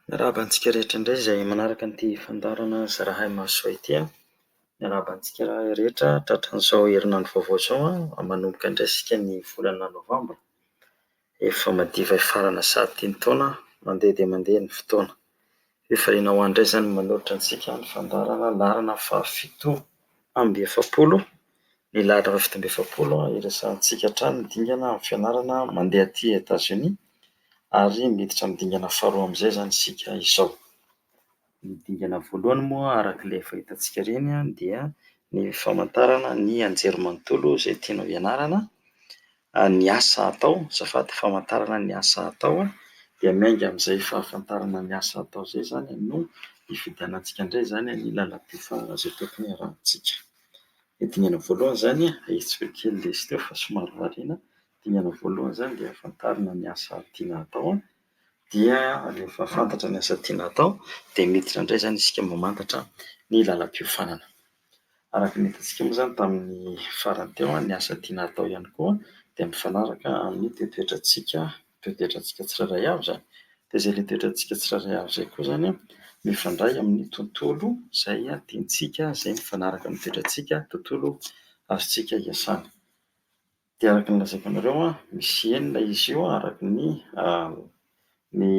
Miarahaba antsika rehetra indray izay manaraka ity fandaharana Zarahay Mahasoa ity. Miarahaba antsika rehetra tratran'izao herinandro vaovao izao manomboka indray isika ny volana novambra. Efa madiva hifarana sahady ity ny taona, mandeha dia mandeha ny fotoana. Efa hainao any indray izany manolotra antsika ny fandaharana laharana fahafito amby efapolo, ny lahatra fahafito amby efapolo hiresahantsika hatrany ny dingana amin'ny fianarana mandeha aty Etazonia ary miditra amin'ny dingana faharoa amin'izay izany isika izao. Ny dingana voalohany moa araka ilay efa hitantsika ireny dia ny famantarana ny anjerimanontolo izay tianao hianarana ny asa atao, azafady, famantarana ny asa atao an, dia miainga amin'izay fahafantarana ny asa atao izay izany an no hifidianantsika indray izany an ny lalam-by fa izay tokony hiarahantsika. Ny dingana voalohany izany an, ahitsiko kely ilay izy teo fa somary variana, ny dingana voalohany izany dia hahafantarana ny asa tiana hatao an, dia rehefa fantatra ny asa tiana hatao dia miditra indray izany isika mamantatra ny lalam-piofanana. Araka ny hitantsika moa izany tamin'ny farany teo, ny asa tiana hatao ihany koa dia mifanaraka amin'ny toetoetrantsika, toetoetrantsika tsirairay avy izany. Dia izay ilay toetrantsika tsirairay avy izay koa izany mifandray amin'ny tontolo izay tiantsika, izay mifanaraka amin'ny toetrantsika, tontolo azontsika iasana. Dia araka ny lazaiko anareo an, misy enina izy io araka ny ny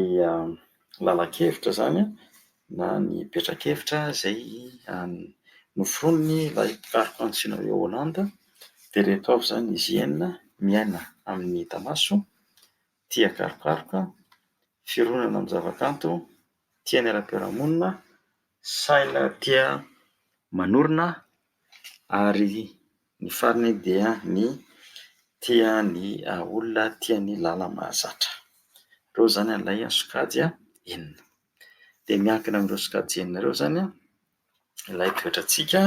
lalan-kevitra izany an, na ny petrakevitra izay noforonin'ilay mpikaroka antsoina hoe Holland, dia ireto avy izany izy enina, miaina amin'ny hita maso, tia karokaroka, fironana amin'ny zavakanto, tia ny ara-piarahamonina, saina tia manorina, ary ny farany dia ny tia ny olona tia ny lala mahazatra. Ireo izany ilay sokajy enina. Dia miankina amin'ireo sokajy enina ireo izany ilay toetrantsika,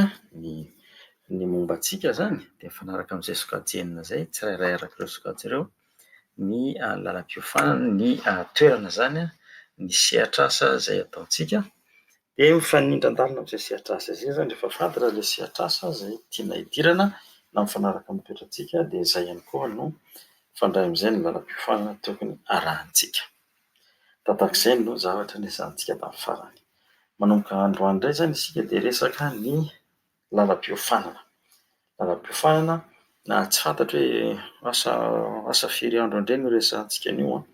ny momba antsika izany dia mifanaraka amin'izay sokajy enina izay tsirairay araka ireo sokajy ireo ny lalam-piofanana, ny toerana izany, ny sehatr'asa izay ataontsika. Dia mifanindran-dalana amin'izay sehatr'asa izay izany, rehefa fantatra ilay sehatr'asa izay tiana hidirana na mifanaraka amin'ny toetrantsika dia izay ihany koa no mifandray amin'izay ny lalam-piofanana tokony harahantsika. Tahak'izay no zavatra niresahantsika tamin'ny farany. Manomboka androany indray izany isika dia hiresaka ny Lalam-piofanana, lalam-piofanana na tsy fantatro hoe asa asa firy andro indray no resahantsika an'io an!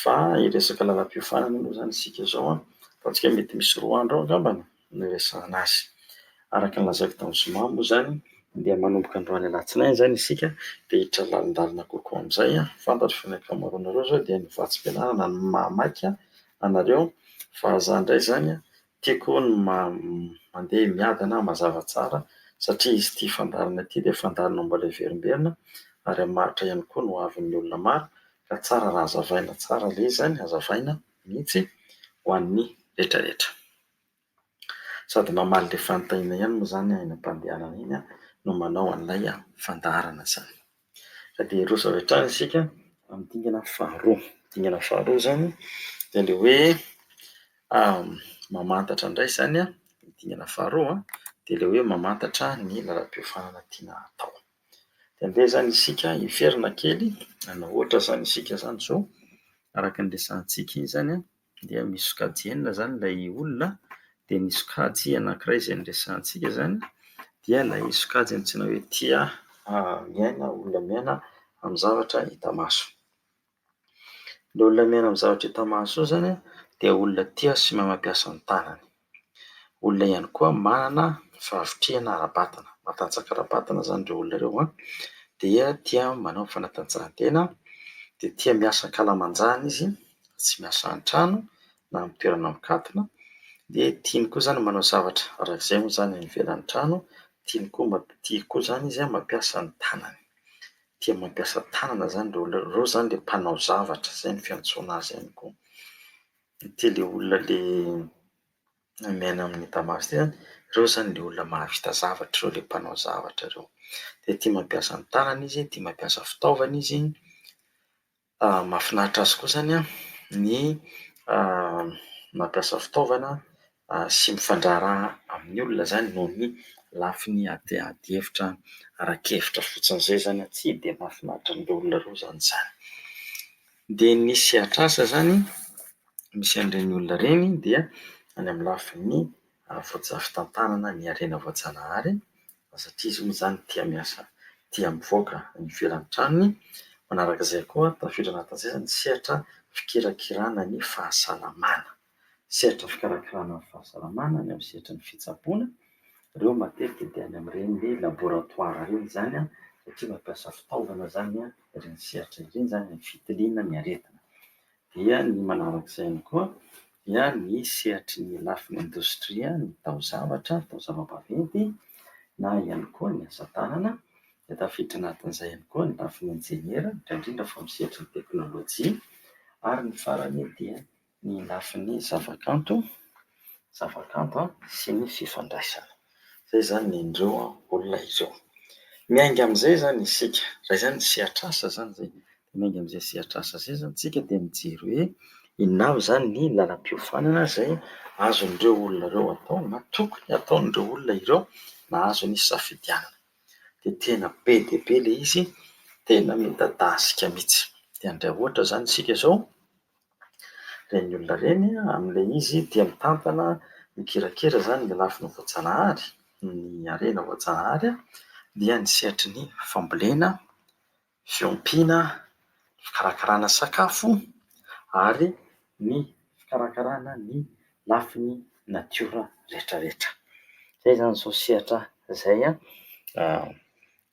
fa hiresaka lalam-piofanana moa izany isika izao an! ataontsika mety misy roa andro eo angamba no niresahana azy. Araka ny lazaiko tamin'ny zoma moa izany dia manomboka androany alatsinainy izany isika dia hiditra lalindalina kokoa amin'izay an! fantatro fa ny ankamaroanareo izao dia ny vatsim-pianarana no mahamaiky anareo fa izaho indray izany an! Tiako ny mandeha miadana mazava tsara satria izy ity fandaharana ity dia fandaharana mbola hiverimberina ary hamaritra ihany koa ny ho avin'ny olona maro ka tsara raha hazavaina tsara ilay izy izany, hazavaina mihitsy ho an'ny rehetra rehetra. Sady mamaly ilay fanontaniana ihany moa izany iny mpandehanana iny no manao an'ilay fandaharana izany. Ka dia hiroso avy hatrany isika amin'ny dingana faharoa. Ny dingana faharoa izany dia ilay hoe mamantatra indray izany an, ny dingana faharoa dia ilay hoe mamantatra ny lalam-piofanana tiana hatao. Dia andeha izany isika hiverina kely, hanao ohatra izany isika izany izao, araka ny resahantsika iny izany an. dia misy sokajy enina izany ilay olona dia ny sokajy anankiray izay niresahantsika izany dia ilay sokajy antsoina hoe tia miaina, olona miaina amin'ny zavatra hita maso. Ilay olona miaina amin'ny zavatra hita maso io izany dia olona tia sy mahay mampiasa ny tanany. olona ihany koa manana fahavitrihana ara-batana, matanjaka ara-batana izany ireo olona ireo, dia tia manao fanatanjahantena, dia tia miasa an-kalamanjana izy fa tsy miasa an-trano na amin'ny toerana mikatona, dia tiany koa izany manao zavatra araka izay moa izany any ivelan'ny trano, tiany koa tia koa izany izy mampiasa ny tanany, tia mampiasa tanana izany ireo olona ireo, ireo izany ilay mpanao zavatra, izay no fiantsoana azy ihany koa. Ity ilay olona ilay miaina amin'i Damasy ity an, ireo izany ilay olona mahavita zavatra ireo, ilay mpanao zavatra ireo. Dia tia mampiasa ny tanany izy, tia mampiasa fitaovana izy. Mahafinaritra azy koa izany ny mampiasa fitaovana sy mifandraharaha amin'ny olona izany noho ny lafiny ady hevitra ara-kevitra fotsiny izay izany tsy dia mahafinaritra an'ireo olona ireo izany izany. Dia ny sehatr'asa izany misy an'ireny olona ireny dia any amin'ny lafiny voajanahary-tantanana ny harena voajanahary satria izy io moa izany tia miasa, tia mivoaka any ivelan'ny tranony. Manaraka izay koa, tafiditra anatin'izay izany ny sehatra fikirakirana ny fahasalamana. sehatra fikarakarana ny fahasalamana, ny amin'ny sehatry ny fitsaboana. Ireo matetika dia any amin'ireny laboratoara ireny izany satria mampiasa fitaovana izany ireny sehatra ireny izany amin'ny fitiliana ny aretina. Dia ny manaraka izay ihany koa dia ny sehatry ny lafiny indostria, ny taozavatra, ny taozava-baventy na ihany koa ny asa tanana. Dia tafiditra anatin'izay ihany koa ny lafiny injeniera, indrindra fa amin'ny sehatry ny teknolojia. Ary ny farany dia... ny lafiny zavakanto, zavakanto an, sy ny fifandraisana. Izay izany ny indreo olona ireo. Miainga amin'izay izany isika, izay izany ny sehatr'asa izany izay. Miainga amin'izay sehatr'asa izay izany isika dia mijery hoe inona avy izany ny lalam-piofanana izay azon'ireo olona ireo atao na tokony ataon'ireo olona ireo nahazo ny safidianana. Dia tena be dia be ilay izy, tena midadasika mihitsy. Dia handray ohatra izany isika izao. ireny olona ireny amin'ilay izy tia mitantana, mikirakira izany ny lafiny voajanahary, ny harena voajanahary dia ny sehatry ny fambolena, fiompiana, fikarakarana sakafo ary ny fikarakarana ny lafiny natiora rehetra rehetra. Izay izany izao sehatra izay.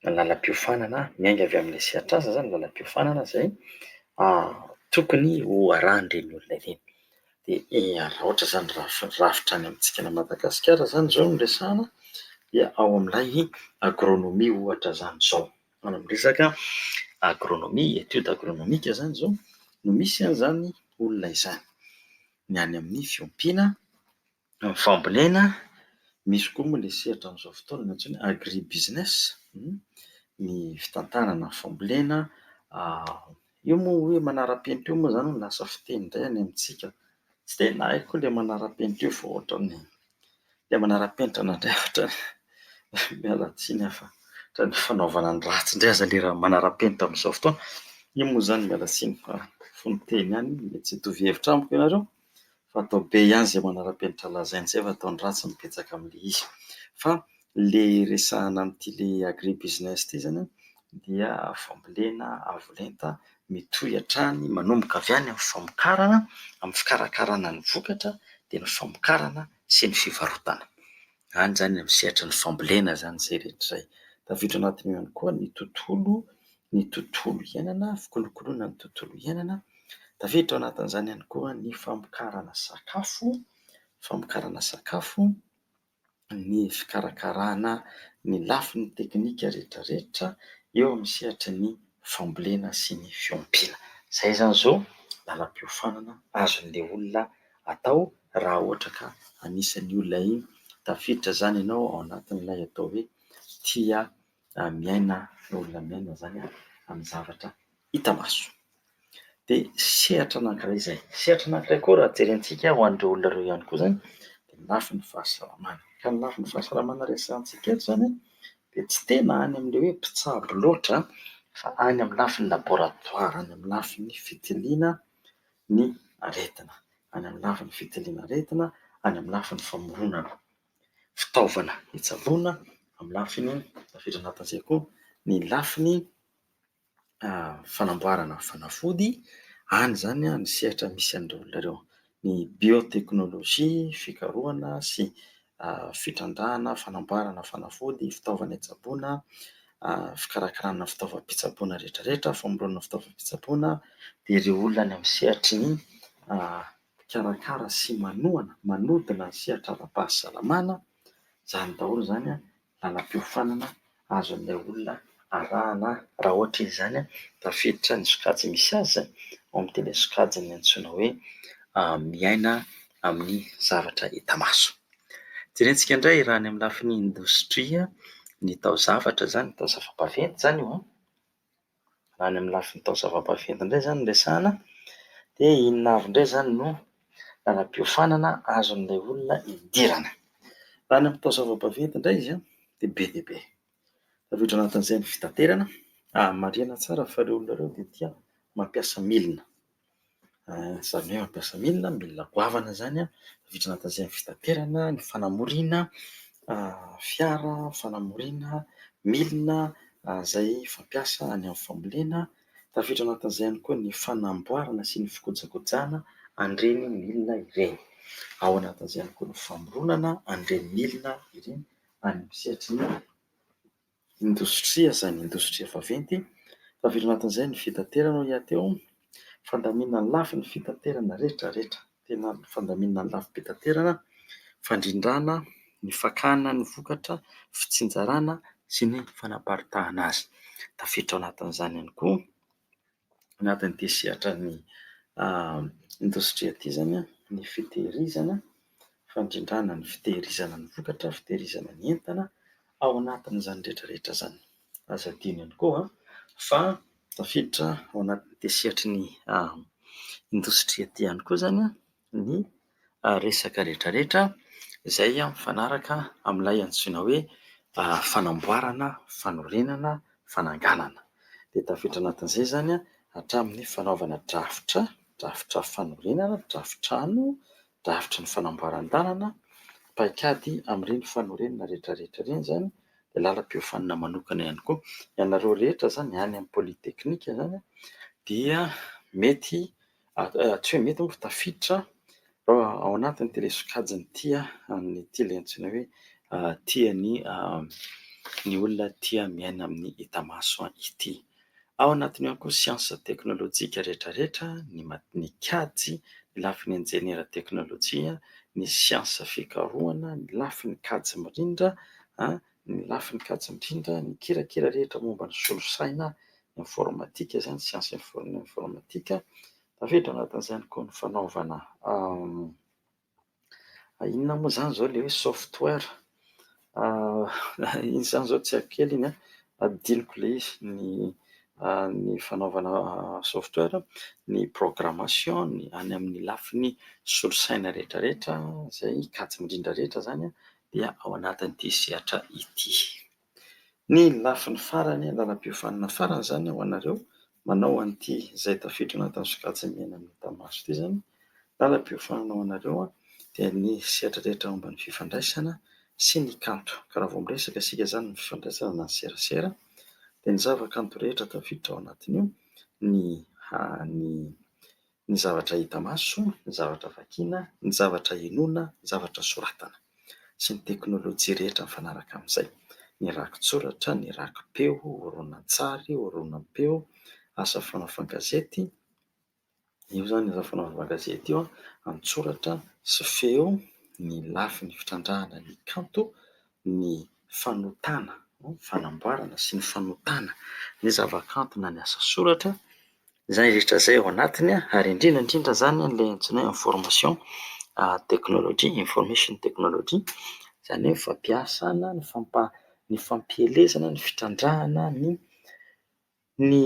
ny lalam-piofanana, miainga avy amin'ilay sehatr'asa izany ny lalam-piofanana izay tokony ho arahan'ireny olona ireny. Dia raha ohatra izany rafi- rafitra any amintsika any Madagasikara izany izao no resahana dia ao amin'ilay agronomie ohatra izany izao, any amin'ny resaka agronomie, étude agronomique izany izao no misy an'izany olona izany, ny any amin'ny fiompiana. Ny fambolena, misy koa moa ilay sehatra amin'izao fotoana antsoina hoe agri business, ny fitantanana ny fambolena. Io moa hoe manara-penitra io moa izany no lasa fiteny indray any amintsika. Tsy dia nahay koa ilay manara-penitra io fa ohatran'ny ilay manara-penitra nandray ohatran'ny, miala tsiny aho fa ohatran'ny fanaovana ny ratsy indray aza ilay raha manara-penitra amin'izao fotoana. Io moa izany miala tsiny fa fony teny ihany, mety tsy hitovy hevitra amiko ianareo. fa atao be ihany izay manara-penitra lazainy izay fa atao ny ratsy no betsaka amin'ilay izy. Fa ilay resahana amin'ity ilay agri business ity izany dia fambolena avo lenta mitohy hatrany manomboka avy any amin'ny famokarana, amin'ny fikarakarana ny vokatra dia ny famokarana sy ny fivarotana. Any izany amin'ny sehatra ny fambolena izany izay rehetra izay. Tafiditra ao anatin'io ihany koa ny tontolo, ny tontolo iainana, fikolokoloana ny tontolo iainana. Tafiditra ao anatin'izany ihany koa ny famokarana sakafo, famokarana sakafo, ny fikarakarana ny lafiny teknika rehetra rehetra eo amin'ny sehatry ny fambolena sy ny fiompiana. Izay izany izao lalam-piofanana azon'ilay olona atao raha ohatra ka anisan'ny olona iny. Tafiditra izany ianao ao anatin'ilay atao hoe tia miaina ny olona miaina izany amin'ny zavatra hita maso. Dia sehatra anankiray izay. Sehatra anankiray koa raha jerentsika ho an'ireo olona ireo ihany koa izany dia ny lafiny fahasalamana. Ka ny lafiny fahasalamana resahantsika eto izany dia tsy tena any amin'ilay hoe mpitsabo loatra fa any amin'ny lafiny laboratoara, any amin'ny lafiny fitiliana ny aretina, any amin'ny lafiny fitiliana aretina, any amin'ny lafiny famoronana fitaovana hitsaboana, amin'ny lafiny tafiditra anatin'izay koa ny lafiny fanamboarana fanafody, any izany ny sehatra misy an'ireo olona ireo. Ny bioteknolojia, fikarohana sy fitrandrahana, fanamboarana fanafody, fitaovana hitsaboana, fikarakarana fitaovam-pitsaboana rehetrarehetra, famoronana fitaovam-pitsaboana, dia ireo olona any amin'ny sehatry ny mpikarakara sy manohana, manodina ny sehatra ara-pahasalamana, izany daholo izany. làlam-piofanana azon'ilay olona arahana. Raha ohatra izany, tafiditra ny sokajy misy azy ao amin'ity ilay sokajy antsoina hoe miaina amin'ny zavatra hita maso. Jerentsika indray raha any amin'ny lafiny indostria ny taozavatra izany, taozava-baventy izany io. Raha any amin'ny lafiny taozava-baventy indray izany no resahana dia inona avy indray izany no làlam-piofanana azon'ilay olona idirana? Raha any amin'ny taozava-baventy indray izy dia be dia be. Tafiditra ao anatin'izay ny fitaterana, marihina tsara fa ireo olona ireo dia tia mampiasa milina. Izany hoe mampiasa milina, milina goavana izany an, vitsy nahatazay ny fitaterana, ny fanamoriana fiara, fanamoriana milina izay fampiasa any amin'ny fambolena, tafiditra anatin'izay ihany koa ny fanamboarana sy ny fikojakojana an'ireny milina ireny. Ao anatin'izay ihany koa ny famoronana an'ireny milina ireny any amin'ny sehatry ny... indostria izany indostria vaventy, tavela anatin'izay ny fitaterana hoy aho teo, fandaminana ny lafiny fitaterana rehetra rehetra, tena fandaminana ny lafim-pitaterana, fandrindrana ny fakana ny vokatra, fitsinjarana sy ny fanaparitahana azy, tafiditra ao anatin'izany ihany koa. anatin'ity sehatran'ny indostria ity izany ny fitehirizana, fandrindrana ny fitehirizana ny vokatra, fitehirizana ny entana. Ao anatin'izany rehetra rehetra izany, aza adino ihany koa fa tafiditra ao anatin'ity sehatry ny indostria ity ihany koa izany. ny resaka rehetrarehetra izay mifanaraka amin'ilay antsoina hoe fanamboarana, fanorenana, fananganana. Dia tafiditra anatin'izay izany hatramin'ny fanaovana drafitra, drafitra fanorenana, drafitrano, drafitry ny fanamboaran-dalana, paikady amin'ireny fanorenana rehetrarehetra ireny izany, dia lalam-piofanana manokana ihany koa. Ianareo rehetra izany any amin'ny politeknika izany dia mety... Tsy hoe mety angamba tafiditra ao anatin'ity ilay sokajiny ity amin'ity ilay antsoina hoe tia ny ny olona tia miaina amin'ny hita maso ity. Ao anatin'io ihany koa siansa teknolojika rehetra rehetra, ny mat- ny kajy, ny lafiny injeniera teknolojia, ny siansa fikarohana, ny lafiny kajy mirindra an! Ny lafiny kajy indrindra, ny kirakira rehetra momba ny solosaina, ny informatika izany, siansa informatika. Tafiditra ao anatin'izay ihany koa ny fanaovana inona moa izany izao ilay hoe software, inona izany izao tsy haiko kely iny an, adinoko ilay izy, ny fanaovana software, ny programmation, ny any amin'ny lafiny solosaina rehetra rehetra, izay kajy indrindra rehetra izany an. dia ao anatin'ity sehatra ity. Ny lafiny farany, lalam-piofanana farany izany ho anareo manao an'ity izay tafiditra anatin'ny sokajy mena mita maso ity izany, lalam-piofanana ho anareo dia ny sehatra rehetra momba ny fifandraisana sy ny kanto. Ka raha vao miresaka isika izany ny fifandraisana na ny serasera dia ny zavakanto rehetra tafiditra ao anatin'io ny ny zavatra hita maso, ny zavatra vakiana, ny zavatra henoina, ny zavatra soratana, sy ny teknolojia rehetra mifanaraka amin'izay, ny rakitsoratra, ny rakipeo, horonantsary, horonam-peo, asa fanaovan-gazety, io izany asa fanaovan-gazety io, an-tsoratra sy feo, ny lafiny fitrandrahana ny kanto, ny fanotana, fanamboarana sy ny fanotana ny zavakanto na ny asa soratra. Izany rehetra izay ao anatiny ary indrindra indrindra izany ilay antsoina hoe information technology, information technology, izany hoe ny fampiasana, ny fampa- ny fampielezana, ny fitrandrahana ny ny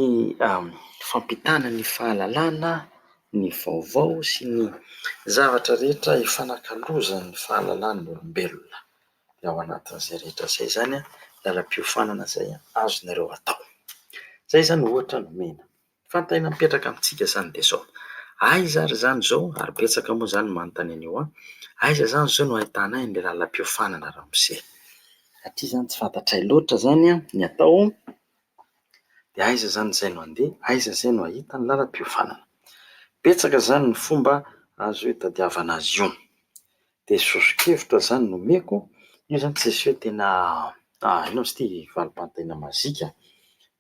fampitana ny fahalalana, ny vaovao sy ny zavatra rehetra ifanakalozan'ny fahalalahan'ny olombelona. dia ao anatin'izay rehetra izay izany ny lalam-piofanana izay azonareo atao. Izay izany ohatra nomena. Fantaina mipetraka amintsika izany dia izao. Aiza ary izany izao ary betsaka moa izany no manontany an'io an? Aiza izany izao no ahitana an'ilay lalam-piofanana ramose? Satria izany tsy fantatray loatra izany ny atao dia aiza izany izay no handeha, aiza izay no hahita ny lalam-piofanana? Betsaka izany ny fomba azo itadiavana azy io. Dia soso-kevitra zany no omeko, io zany tsisy hoe tena hainao izy ity valim-panontaniana mazika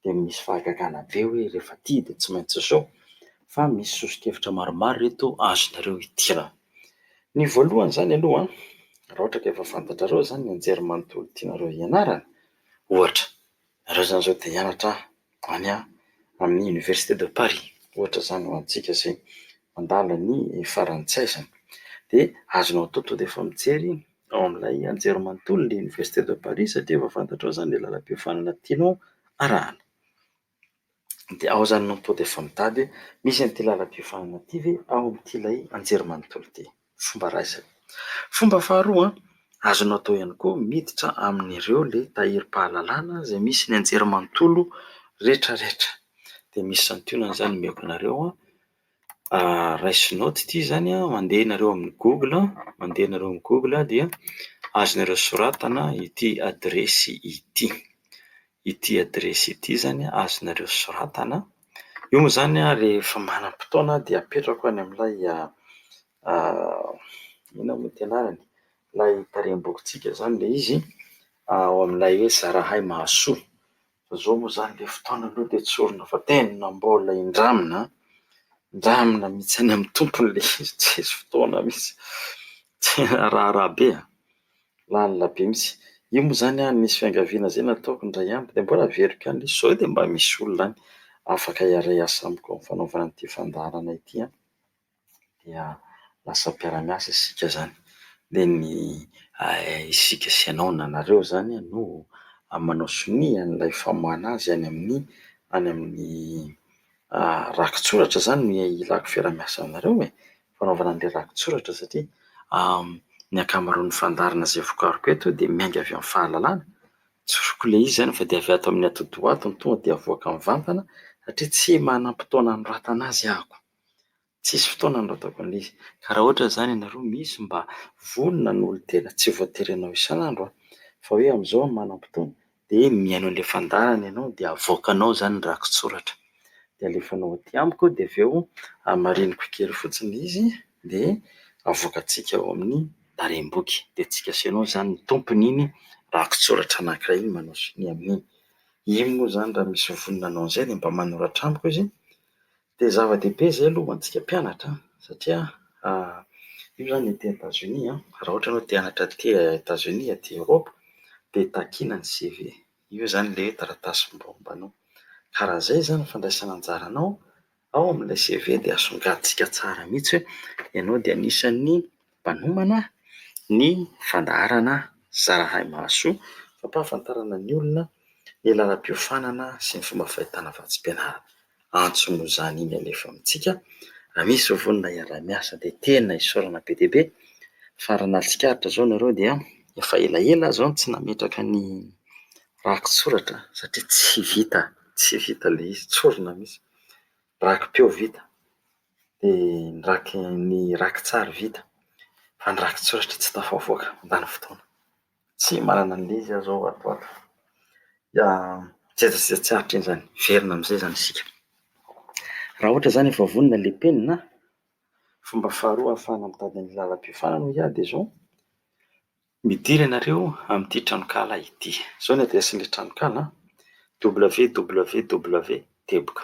dia misy fahagagana be hoe rehefa ity dia tsy maintsy izao fa misy soso-kevitra maromaro ireto azonareo idirana. Ny voalohany zany aloha an, raha ohatra ka efa fantatrareo zany ny anjerimanontolo tianareo hianarana ohatra, Nareo zany zao te hianatra any amin'ny université de Paris ohatra izany ho antsika izay mandala ny farantsay izany, dia azonao atao tonga dia efa mijery ao amin'ilay anjerimanontolo ny université de Paris satria efa fantatrao izany ilay lalam-piofanana tianao arahana. Dia ao izany no tonga dia efa mitady hoe misy an'ity lalam-piofanana ity ve ao amin'ity ilay anjerimanontolo ity. fomba raisina. Fomba faharoa azonao atao ihany koa miditra amin'ireo le tahirim-pahalalana izay misy ny anjerimanontolo rehetra rehetra. Dia misy santionany izany omeko anareo raisinao ity izany mandeha ianareo amin'ny google mandeha ianareo amin'ny google dia azonareo soratana ity adiresy ity. Ity adiresy ity izany azonareo soratana. Io moa izany rehefa manam-potoana dia apetrako any amin'ilay inona moa ity anarany? ilay tarehi-bokintsika izany ilay izy ao amin'ilay hoe zarahay mahasoa. Fa izao moa izany ilay fotoana aloha dia tsy orina fa tena mbola hindramina, hindramina mihitsy any amin'ny tompony ilay izy, tsisy fotoana mihitsy. Tena raharaha be an! lalina be mihitsy. Io moa izany an, nisy fiangaviana izay nataoko indray andro dia mbola averiko ihany ilay izy. Izao dia mba misy olona any afaka hiaray asa amiko amin'ny fanaovana ity fandaharana ity an! Dia lasa mpiara-miasa isika izany. Dia ny isika sy ianao na nareo izany no manao sonia an'ilay famoahana azy any amin'ny, any amin'ny rakitsoratra izany no ilako fiaraha-miasa aminareo e, fanaovana an'ilay rakitsoratra satria ny ankamaroan'ny fandaharana izay vokariko eto dia miainga avy amin'ny fahalalana. Tsoriko ilay izy izany fa dia avy ato amin'ny atidoha ato no tonga dia avoaka mivantana satria tsy manam-potoana anoratana azy aho. Tsisy fotoana nirotako an'ilay izy. Ka raha ohatra izany ianareo misy mba vonona ny olon-tena, tsy voatery hanao isan'andro an, fa hoe amin'izao no manam-potoana, dia mihaino an'ilay fandaharana ianao dia avoakanao izany ny rakitsoratra. Dia alefanao aty amiko eo dia avy eo hamariniko kely fotsiny ilay izy dia avoakantsika ao amin'ny Tarehiboky. Dia antsika sy ianao izany no tompon'iny rakitsoratra anankiray iny manao sonia amin'iny. Iny moa izany raha misy vonona hanao an'izay dia mba manoratra amiko izy Dia zava-dehibe izay aloha ho antsika mpianatra satria io izany aty Etazonia, raha ohatra ianao te hianatra aty Etazonia, aty Eoropa, dia takiana ny CV. Io izany ilay hoe taratasy mombamomba anao. Ka raha izay izany ny fandraisana anjara anao, ao amin'ilay CV dia asongadintsika tsara mihitsy hoe ianao dia anisan'ny mpanomana ny fandaharana Zarahay Mahasoa, fampahafantarana ny olona ny lalam-piofanana sy ny fomba fahitana vatsim-pianarana. Antso noho izany iny alefa amintsika, raha misy vovonana hiaraha-miasa dia tena isaorana be dia be fa raha nary tsikaritra izao nareo dia efa elaela aho izao no tsy nametraka ny raki-tsoratra satria tsy vita, tsy vita ilay izy, tsorina mihitsy. Raki-peo vita. dia ny raki- ny raki-tsary vita fa ny raki-tsoratra tsy tafavoaka, mandany fotoana. Tsy manana an'le izy aho izao ato ho ato. Dia tsy aiza sy aiza tsy hahatreny izany, hiverina amin'izay izany isika. Raha ohatra izany efa vonona ilay penina, fomba faharoa ahafahana mitady ny lalam-piofanana hoy aho dia izao, midira ianareo amin'ity tranonkala ity. Izao ny adiresin'ilay tranonkala an, www. Teboka.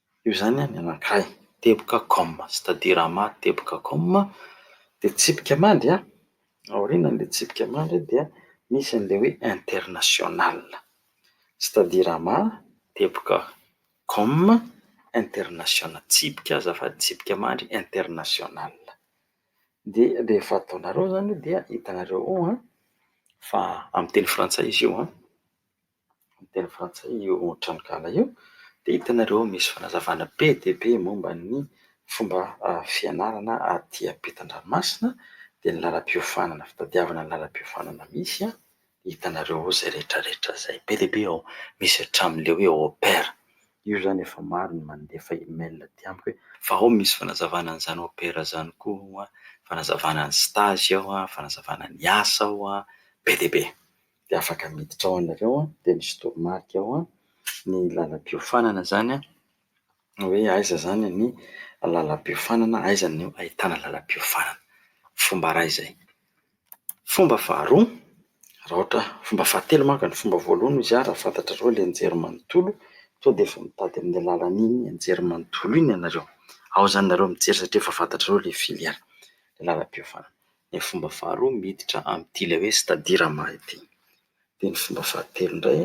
Io zany ny anankiray, teboka com, c'est-à-dire ama teboka com, dia tsipika mandry an, aorianan'ilay tsipika mandry dia misy an'ilay hoe international, c'est-à-dire ama teboka com, international, tsipika azafady, tsipika mandry international. Dia rehefa ataonareo zany dia hitanareo ao fa amin'ny teny frantsay izy io an. amin'ny teny frantsay io tranonkala io dia hitanareo misy fanazavana be dia be momba ny fomba fianarana aty ampitan-dranomasina dia ny lalam-piofanana fitadiavana ny lalam-piofanana misy an! hitanareo izay rehetra rehetra izay be dia be ao misy hatramin'ilay hoe OPER io izany efa maro ny mandefa email aty amiko hoe fa ao misy fanazavana an'izany OPER izany koa an! fanazavana ny stage ao an! fanazavana ny asa ao an! be dia be dia afaka miditra ao ianareo an, dia misy toromarika ao an, ny lalam-piofanana izany an, na hoe aiza izany ny lalam-piofanana, aiza no ahitana lalam-piofanana. Fomba iray izay. Fomba faharoa, raha ohatra, fomba fahatelo manko e, ny fomba voalohany hoy izy aho, raha fantatrareo ilay anjerimanontolo, tonga dia efa mitady amin'iny lalan'iny anjerimanontolo iny ianareo. Ao izany ianareo mijery satria efa fantatrareo ilay filière, ny lalam-piofanana. Ny fomba faharoa miditra amin'ity ilay hoe c'est-à-dire ama ity. Dia ny fomba fahatelo indray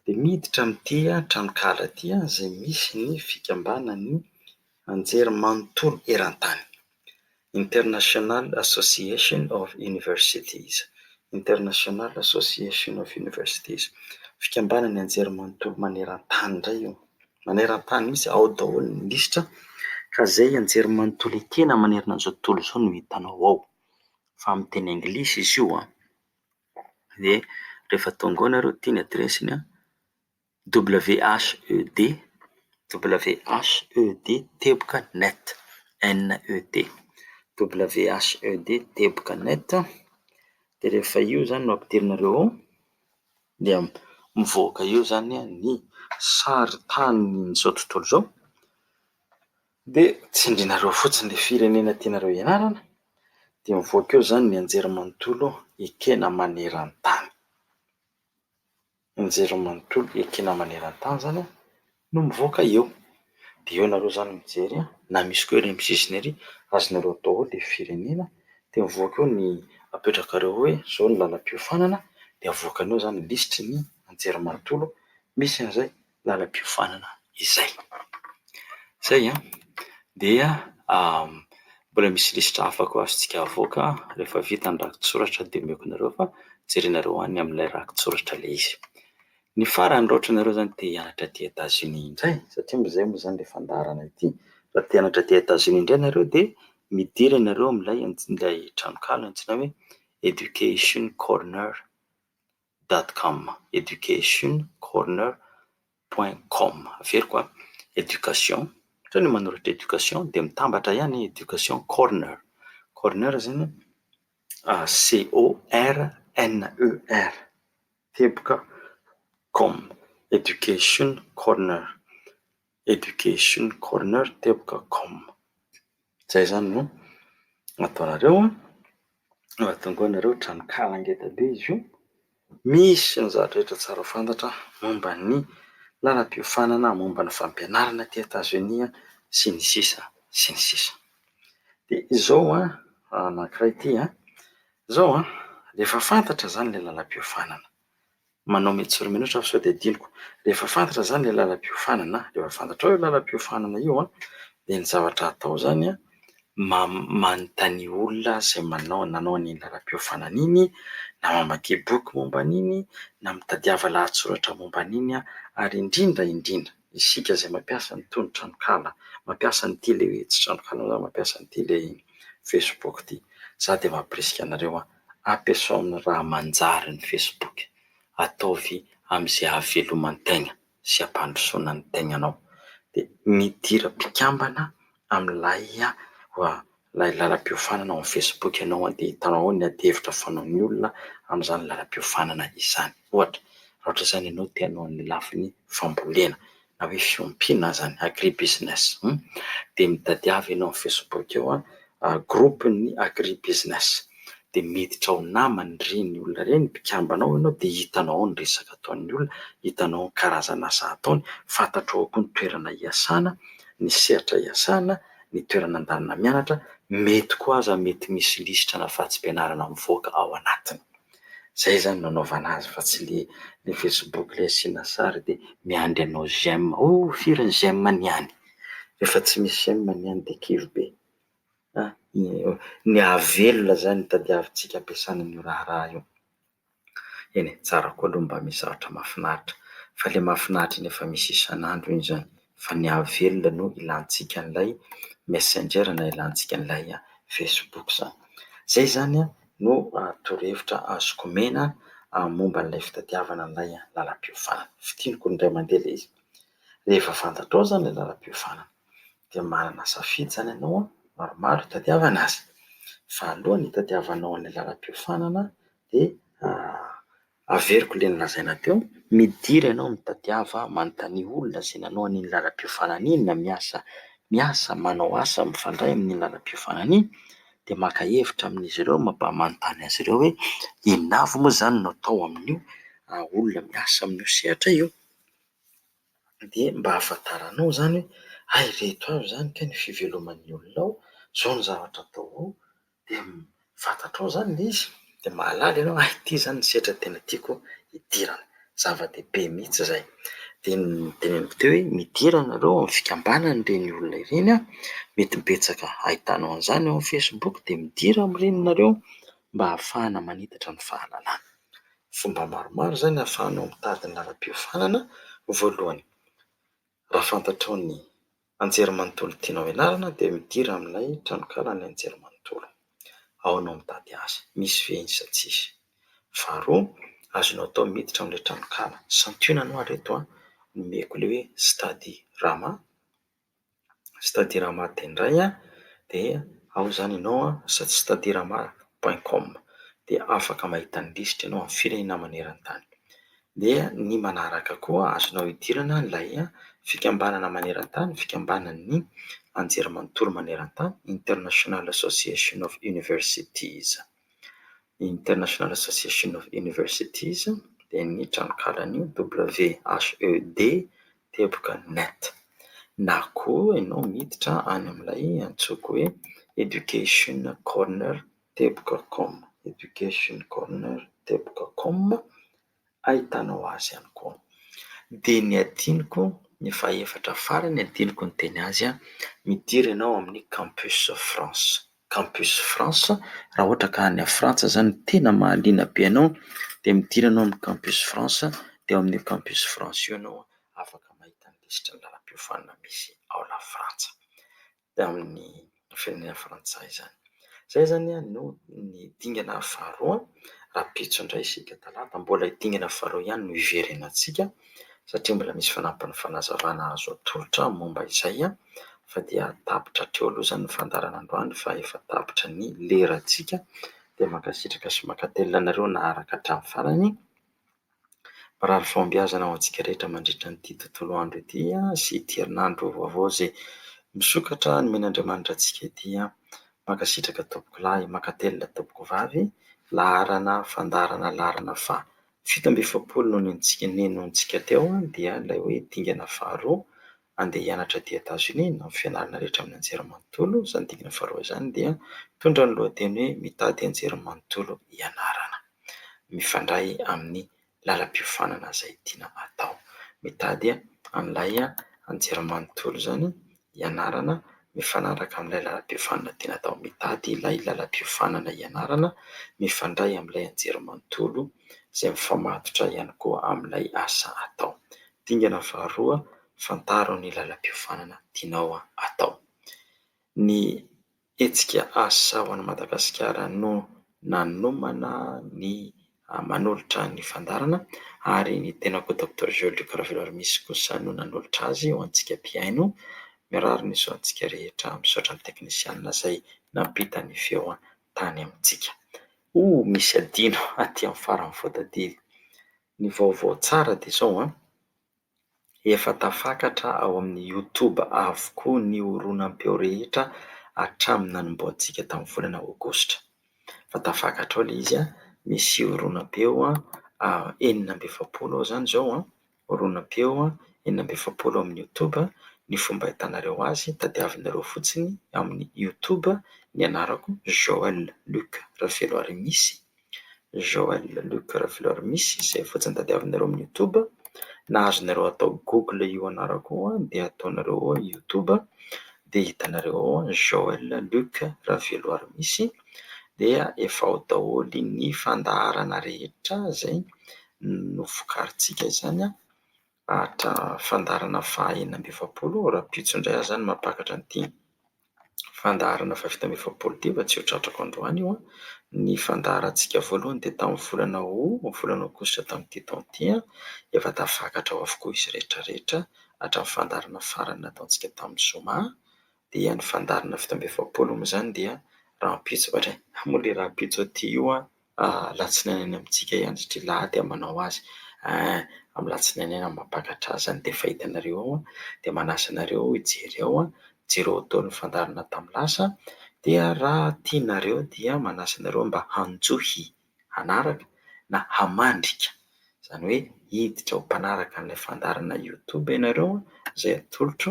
dia miditra amin'ity tranonkahala ity izay misy ny fikambanan'ny anjerimanontolo eran-tany, International Association of Universities, International Association of Universities, fikambanan'ny anjerimanontolo maneran-tany indray io. maneran-tany mihitsy ao daholo ny lisitra ka izay anjerimanontolo ekena manerana an'izao tontolo izao no hitanao ao. Fa amin'ny teny anglisy izy io an! Dia rehefa tonga ao ianareo dia ity ny adiresiny an: WHED, WHED teboka net, NET. WHED teboka net, dia rehefa io izany no ampidirinareo ao. Dia mivoaka eo izany ny saritanin'izao tontolo izao, dia tsindrinareo fotsiny ilay firenena tianareo hianarana, dia mivoaka eo izany ny anjerimanontolo ekena maneran-tany. Anjerimanontolo ekena maneran-tany izany an! no mivoaka eo de eo nareo zany mijery a, na misy ko ery am sisiny ery azonareo atao ao le firenena de mivoaka eo ny apetrakareo oe zao ny lalam-piofanana de avoakany eo zany lisitry ny anjerimanontolo misy anzay lalam-piofanana izay. Zay an! dia mbola misy lisitra hafa ko azontsika avoaka refa vita ny rakitsoratra de omeko anareo fa jerenareo any amle rakitsoratra le izy. Ny farany raha ohatra ianareo izany te hianatra aty Etats-Unis indray, satria moa izay moa izany ilay fandaharana ity, raha te hianatra aty Etats-Unis indray ianareo dia midira ianareo amin'ilay ilay tranonkala antsoina hoe educationcorner dot com, educationcorner point com. Averiko an, education, ohatra ny manoratra education dia mitambatra ihany educationcorner, corner izany an, C O R N E R. Teboka com education corner education corner teboka com zay zany no ataonareo an! Raha tonga ao ianareo, tranonkala ngeda be izy io, misy ny zavatra rehetra tsara ho fantatra momba ny lalam-piofanana, momba ny fampianarana aty Etazonia sy ny sisa sy ny sisa. Dia izao an, anankiray ity an, Zao an, rehefa fantatra zany le lalam-piofanana, manao mety sy roa minitra aho fa sao dia adinoko, rehefa fantatra zany le lalam-piofanana, rehefa fantatrao io lalam-piofanana io an, dia ny zavatra atao zany an, manontania olona izay manao nanao an'iny lalam-piofanana iny, na mamakia boky momba an'iny, na mitadiava lahatsoratra momba an'iny ary indrindra indrindra, Isika izay mampiasa ny tony tranonkala, mampiasa ny tele tsy tranonkala na mampiasa ny tele facebook ity, za dia mampirisika anareo an, ampiasao amin'ny raha manjary ny facebook, ataovy amin'izay ahaveloman-tegna sy ampandrosoana ny tegnanao, dia midira mpikambana amin'ilay hoe ilay lalam-piofanana ao amin'ny facebook ianao dia hitanao ao ny adihevitra fanaon'ny olona amin'izany lalam-piofanana izany. Ohatra, raha ohatra izany ianao te hanao ny lafiny fambolena na hoe fiompiana aza ny agribusiness, dia mitadiava ianao amin'ny facebook eo groupe ny agribusiness, dia miditra ao namany ireny olona ireny, mpikambana ao ianao, dia hitanao ao ny resaka ataon'ny olona, hitanao ny karazana asa ataony, fantatrao ao koa ny toerana hiasana. ny sehatra iasana, ny toerana andanina mianatra, mety koa aza mety misy lisitra na fahatsim-pianarana mivoaka ao anatiny. Izay izany no anaovana azy fa tsy le le facebook le asiana sary dia miandry anao j'aime, oh firy ny j'aime ny any? Rehefa tsy misy j'aime ny any dia kivy be. Ny hahavelona izany no tadiavintsika ampiasana an'io raharaha io. Eny e, tsara koa aloha mba misy zavatra mahafinaritra. Fa ilay mahafinaritra iny efa misy isan'andro iny izany. Fa ny hahavelona no ilantsika an'ilay Messenger na ilantsika an'ilay Facebook izany. Izay izany no torohevitra azoko omena momba an'ilay fitadiavana an'ilay lalam-piofanana. Fintiniko indray mandeha ilay izy. Rehefa fantatrao izany ilay lalam-piofanana. dia manana safidy izany ianao maromaro hitadiavana azy. Fahalohany hitadiavanao ny lalam-piofanana dia averiko ilay nolazaina teo, midira ianao mitadiava manontania olona izay nanao an'iny lalam-piofanana iny na miasa miasa manao asa mifandray amin'ny lalam-piofanana iny dia maka hevitra amin'izy ireo mba manontany azy ireo hoe inona avy moa izany no atao amin'io olona miasa amin'io sehatra io. Dia mba ahafantaranao izany hoe hay ireto avy izany kay ny fiveloman'ny olona ao, izao ny zavatra atao ao, dia fantatrao izany ilay izy, dia mahalala ianao hay ity izany ny sehatra tena tiako hidirana, zava-dehibe mihitsy izay. Dia noteneniko teo hoe midira ianareo ao amin'ny fikambanan'ireny olona ireny an, mety betsaka ahitanao an'izany ao amin'ny Facebook dia midira amin'ireny ianareo mba ahafahana manitatra ny fahalalana. Fomba maromaro izany ahafahanao mitady ny lalam-piofanana, voalohany, raha fantatrao ny anjerimanontolo tianao ianarana dia midira amin'ilay tranonkala ny anjerimanontolo, ao no mitady azy, misy ve izy sa tsy misy. Faharoa, azonao atao ny miditra amin'ilay tranonkala, santionany ho'a ireto aho, nomeko ilay hoe Study Rama. c'est-à-dire hamato dia indray an, dia ao izany ianao an, c'est-à-dire hamato point com, dia afaka mahita ny lisitra ianao amin'ny firenena maneran-tany. Dia ny manaraka koa azonao idirana ilay fikambanana maneran-tany, fikambanan'ny anjerimanontolo maneran-tany, International Association of Universities. International Association of Universities dia ny tranonkalan'io WHED. teboka net na koa ianao miditra any amin'ilay antsoiko hoe Education Corner teboka com, Education Corner teboka com, ahitanao azy ihany koa. Dia ny adinoko, ny fahefatra farany adinoko niteny azy, midira ianao amin'ny Campus France. Campus France, raha ohatra ka any Frantsa izany tena mahaliana be anao dia miditra ianao amin'ny Campus France dia ao amin'io Campus France io ianao afaka mahita ny lisitry ny lalam-piofanana misy ao La Frantsa dia amin'ny firenena frantsay izany. Izay izany no ny dingana faharoa rahampitso indray isika talata mbola dingana faharoa ihany no hiverenantsika. satria mbola misy fanampiny fanazavana azo atolotra momba izay fa dia tapitra hatreo aloha izany ny fandaharana androany fa efa tapitra ny lerantsika dia mankasitraka sy mankatelina anareo naharaka hatramin'ny farany mirary fahombiazana ho antsika rehetra mandritra an'ity tontolo andro ity sy ity herinandro vaovao izay misokatra nomena Andriamanitra antsika ity mankasitraka tompokolahy mankatelina tompokovavy laharana fandaharana laharana faha Fito amby efapolo no nentintsika nenointsika teo dia ilay hoe dingana faharoa andeha hianatra aty Etazonia na ny fianarana rehetra amin'ny anjerimanontolo, izany dingana faharoa izany dia mitondra ny lohateny hoe mitady anjerimanontolo hianarana. Mifandray amin'ny lalam-piofanana izay tiana atao. Mitady an'ilay anjerimanontolo izany ianarana mifanaraka amin'ilay lalam-piofanana tiana atao. Mitady ilay lalam-piofanana ianarana mifandray amin'ilay anjerimanontolo izay mifamatotra ihany koa amin'ilay asa atao. Dingana faharoa, fantaro ny lalam-piofanana tianao atao. Ny Hetsika Asa ho an'i Madagasikara no nanomana ny manolotra ny fandaharana ary ny tenako Doctor Joly Luc Raveloarimisy kosa no nanolotra azy ho antsika mpihaino. Mirary ny soa antsika rehetra. Misaotra ny teknisianina izay nampita ny feo tany amintsika. Oh! Misy adino aty amin'ny farany voatadidy. Ny vaovao tsara dia izao an! Efa tafakatra ao amin'ny Youtube avokoa ny horonam-peo rehetra hatramin'ny nanombohantsika tamin'ny volana Aogositra. Efa tafakatra ao ilay izy, misy horonam-peo enina amby efapolo ao izany izao, horonam-peo enina amby efapolo ao amin'ny Youtube. Ny fomba ahitanareo azy, tadiavinareo fotsiny amin'ny Youtube ny anarako Joël Luc Raveloarimisyy. Joël Luc Rafleur misy izay fotsiny tadiavinareo amin'ny youtube na azonareo atao google io anarako io dia ataonareo ao youtube dia hitanareo ao Joël Luc Raveloir misy dia efa ao daholo ny fandaharana rehetra izay novokarintsika izany Atra fandaharana faha enina amby efapolo, raha pitsy indray aza no mampakatra an'ity fandaharana faha fito amby efapolo ity fa tsy ho tratrako androany io an! Ny fandaharantsika voalohany dia tamin'ny volana Août, ny volana Aogositra tamin'ity taona ity an! Efa tafakatra ao avokoa izy rehetra rehetra hatramin'ny fandaharana farany nataontsika tamin'ny zoma dia ny fandaharana fito amby efapolo moa izany dia rahampitso, ohatran'ny hoe rahampitso aty io an! Alatsinainy any amintsika iandry dry lahy dia manao azy eh Amin'ny latsinainy any amam-panatrasa any dia fahitanareo ao dia manasa anareo hijery ao Jereo atao ny fandaharana tamin'ny lasa dia raha tianareo dia manasa anareo mba hanjohy hanaraka na hamandrika Izany hoe hiditra ho mpanaraka an'ilay fandaharana youtube ianareo izay atolotro,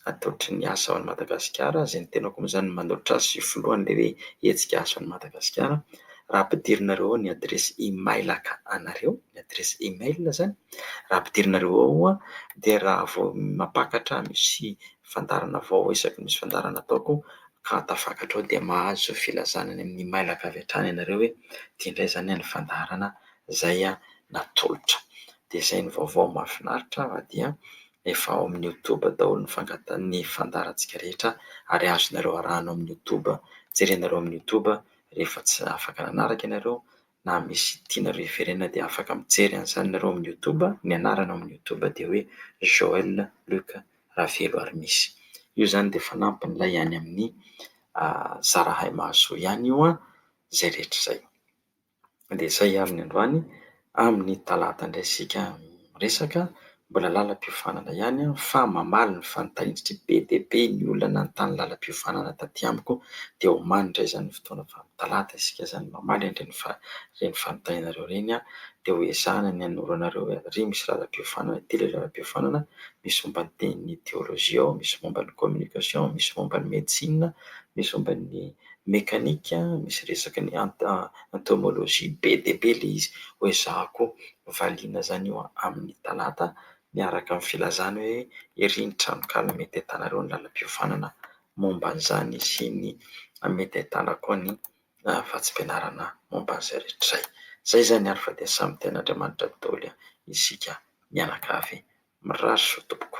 atolotry ny asa ao an'i Madagasikara, izay ny tenako moa izany no manolotra azy io filohany ilay hoe hetsika asa ao an'i Madagasikara, raha ampidirinareo ao ny adiresy e-mailaka anareo, ny adiresy e-mail izany, raha ampidirinareo ao dia raha vao mampakatra misy fandaharana vaovao isaky ny misy fandaharana ataoko ka tafakatra ao dia mahazo filazana any amin'ny e-mailaka avy hatrany ianareo hoe ity indray izany ny fandaharana izay natolotra. Dia izay ny vaovao mahafinaritra fa dia efa ao amin'ny youtube daholo ny fangata- ny fandaharantsika rehetra ary azonareo arahana ao amin'ny youtube, jerenareo amin'ny youtube rehefa tsy afaka nanaraka ianareo na misy tianareo hiverenana dia afaka mijery an'izany ianareo amin'ny youtube, ny anarana ao amin'ny youtube dia hoe Joël Luc Ravelo ary misy. Io izany dia fanampin'ilay any amin'ny Zarahay Mahasoa ihany io an! izay rehetra izay. Andeha hiaro ny androany, amin'ny talata indray isika miresaka. Mbola lalam-piofanana ihany fa mamaly ny fanitahiantsika be dia be ny olona nanontany lalam-piofanana taty amiko dia omaly indray izany ny fotoana fa amin'ny talata isika izany mamaly an'ireny fanitahianareo ireny dia ho ezahina ny hanoro anareo hoe ary misy lalam-piofanana ity ilay lalam-piofanana misy momba ny tenin'ny teolojia ao, misy momba ny communication, misy momba ny medecine, misy momba ny mekanika misy resaka ny entomologie be dia be ilay izy, hoezahako valiana izany io amin'ny talata miaraka amin'ny filazana hoe ery ny tranonkala mety ahitanareo ny lalam-piofanana momba an'izany sy ny mety ahitana koa ny vatsim-pianarana momba an'izay rehetra izay. Izay izany ary fa dia samy tenin'Andriamanitra daholo isika mianakavy. Mirary soa tompoko.